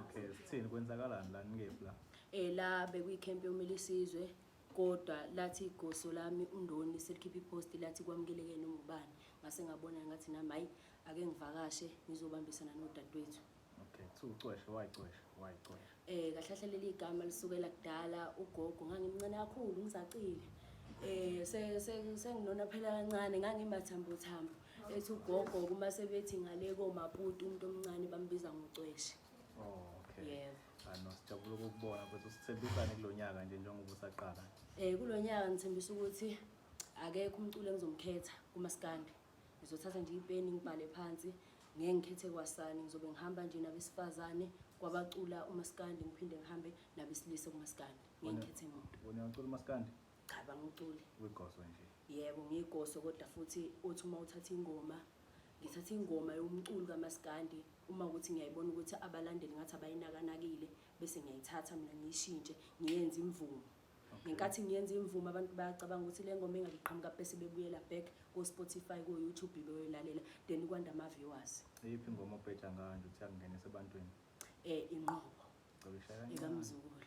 Okay, sithini kwenzakalani la ngikephi la? Eh la bekuyikhempe yomile isizwe kodwa lathi igoso lami undoni selikhipha ipost lathi kwamukeleke noma ubani ngase ngabona ngathi nami hayi ake ngivakashe ngizobambisana nodadewethu Okay, kuthiwa ucweshe wayicwesha wayicwesha. eh kahlahla leli igama lisukela kudala ugogo ngangimncane kakhulu ngizacile eh se- se- senginona phela kancane ngangimathambo thambo ethi ugogo uma sebethi ngale komaputi umuntu omncane bambiza ngocweshe oh, yebo ano sijabula ukukubona futhi usithembisane kulo nyaka nje njengoba usaqala um kulo nyaka ngithembisa ukuthi akekho umculo engizomkhetha kumasikandi ngizothatha nje ipeni ngibhale phansi ngeke ngikhethe kwasani ngizobe ngihamba nje nabesifazane kwabacula umasikandi ngiphinde ngihambe nabesilisa kumasikandi ngeke ngikhethe muntu wena ucula umasikandi Cha banga uculi. Uyigoso nje. Yebo ngiyigoso kodwa futhi uthi uma uthatha ingoma ngithatha ingoma yomculi kamaskandi uma ukuthi ngiyayibona ukuthi abalandeli ngathi abayinakanakile bese ngiyayithatha mina ngiyishintshe ngiyenze imvumo ngenkathi ngiyenza imvumo abantu bayacabanga ukuthi le ngoma engaliqhamuka bese bebuyela back ko-spotify ko-youtube beyoyilalela then kwanda ama-viewers iyiphi ingoma obheja ngayo nje ukuthi akungenisa ebantwini um inqobo ikamzukulu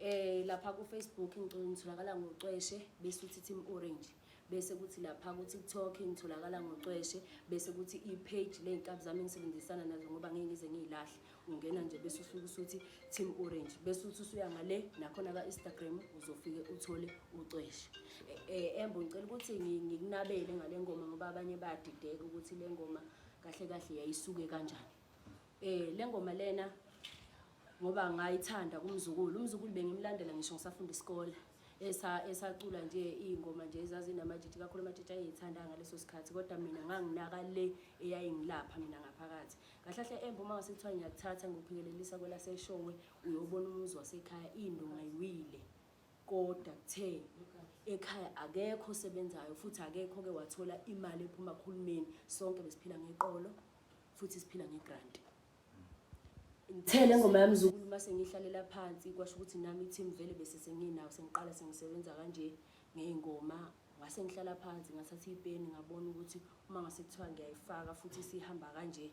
Eh lapha ku Facebook ngicela ngitholakala ngocweshe bese uthi Team Orange bese kuthi lapha ku TikTok ngitholakala ngocweshe bese kuthi i page leyinkabi zami engisebenzisana nazo ngoba ngeke ngize ngiyilahle ungena nje bese usuke usuthi Team Orange bese uthi usuya ngale nakhona ka Instagram uzofike uthole ucweshe eh, eh embo ngicela ukuthi ngikunabele ngale ngoma ngoba abanye bayadideka ukuthi le ngoma kahle kahle yayisuke kanjani Eh lengoma lena ngoba ngayithanda kumzukulu. Umzukulu bengimlandela ngisho ngisafunda isikole. Esa esacula nje izingoma nje ezazinamajiji kakhulu amajiji ayithanda ngaleso sikhathi kodwa mina nganginaka le eyayingilapha mina ngaphakathi. Kahlahle embo uma ngasithiwa ngiyakuthatha ngikuphikelelisa kwelaseshowe uyobona umuzi wasekhaya into ngayiwile. Kodwa kuthe ekhaya akekho osebenzayo futhi akekho ke wathola imali ephuma kuhulumeni sonke besiphila ngeqolo futhi siphila ngegrant ngithele ngoma yami zukulu uma sengihlalela phansi kwasho ukuthi nami team vele bese senginawo sengiqala sengisebenza kanje ngey'ngoma ngase ngihlala phansi ngathatha ipeni ngabona ukuthi uma ngase kuthiwa ngiyayifaka futhi sihamba kanje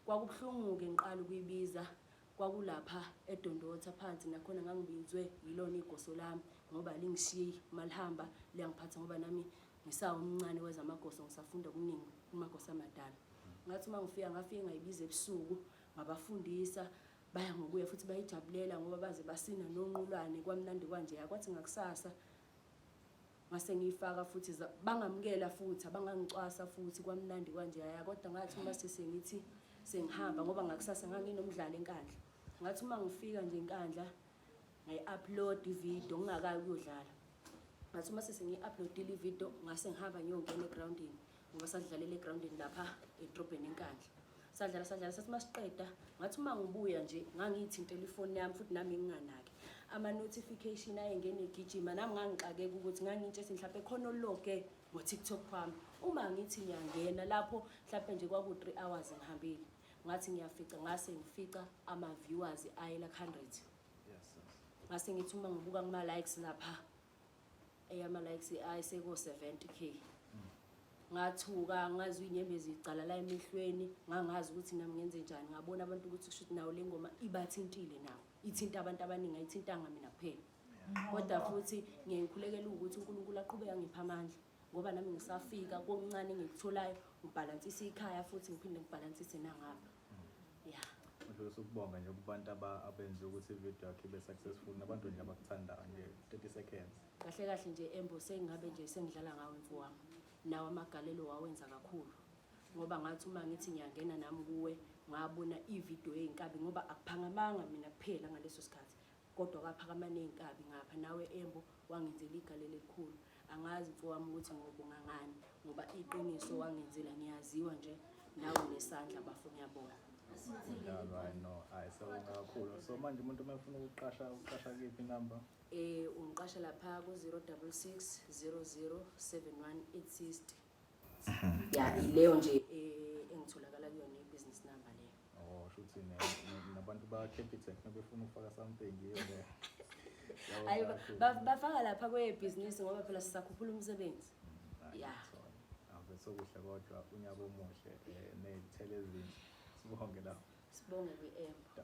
kwakubuhlungu-ke ngiqala ukuyibiza kwakulapha edondotha phansi nakhona ngangibizwe yilona igoso lami ngoba lingishiyi uma lihamba liyangiphatha ngoba nami Ngisawu umncane wezamagoso ngisafunda okuningi kumagoso amadala. Ngathi uma ngifika ngafike ngayibiza ebusuku ngabafundisa baya ngokuya futhi bayijabulela ngoba baze basina nonqulwane kwamnandi kwanje yakwathi ngakusasa ngase ngiyifaka futhi bangamukela futhi abangangicwasa futhi kwamnandi kwanje yaya kodwa ngathi uma sesengithi sengihamba ngoba ngakusasa nganginomdlalo enkandla ngathi uma ngifika nje enkandla ngayi-upload ividiyo ngingakayi ukuyodlala ngathi uma sese ngiyi-uploadile ividiyo ngase ngihamba ngiyongena egrawundini ngoba sadlalela egrawundini lapha edrobheni enkandla sadlala sadlala sathi uma siqeda ngathi uma ngibuya nje ngangiyithintela ifoni yami futhi nami nginganaki ama-notification ayengene egijima nami ngangixakeka ukuthi ngangitshe ethi mhlawumpe khona ologe ngo-tiktok wami uma ngithi ngiyangena lapho mhlawumpe nje kwaku-three hours ngihambile ngathi ngiyafica ngase ngifica ama-viewers ayela ku-hundred ngase ngithi uma ngibuka kuma-likes lapha eyama-likes ayiseko-seventy k ngathuka ngazi uy'nyembezi icala la emehlweni ngangazi ukuthi nami ngenze njani ngabona abantu ukuthi kusho ukuthi nawo le ngoma ibathintile nawo ithinta abantu abaningi ayithintanga mina kuphela kodwa futhi ngiyayikhulekela ukuthi unkulunkulu aqhubeke angipha amandla ngoba nami ngisafika kokuncane engikutholayo ngibhalansise ikhaya futhi ngiphinde ngibhalansise nangapha ya ngidlulisa ukubonga nje kubantu abenze ukuthi ividiyo yakhe ibe successful nabantu nje abakuthandayo nje 30 seconds kahle kahle nje embo sengingabe nje sengidlala ngawo mfo wami nawo amagalelo wawenza kakhulu ngoba ngathi uma ngithi ngiyangena nami kuwe ngabona ividiyo eyinkabi ngoba akuphangamanga mina kuphela ngaleso sikhathi Kodwa kwaphakama ney'nkabi ngapha nawe Embo wangenzela igalelo elikhulu. Angazi mfowami ukuthi ngobonga ngani ngoba iqiniso wangenzela ngiyaziwa nje nawe nesandla bafo ngiyabonga. Mdlalo hayi no hayi sewonga kakhulu. So manje umuntu uma efuna ukuqasha uqasha kephi number? Eh ungiqasha lapha ku 066 00 71 860. ya ileyo nje eh, engitholakala kuyona i-business number leyo oh shuthi nabantu ba-capitec nabefuna ukufaka something hayi bafaka lapha kwebhizinisi ngoba phela sisakhuphula umsebenzi mm, ya ave sokuhle kodwa unyaka omuhle um eh, ney'thelo ezinhle sibonge lapho sibonge kwi-empa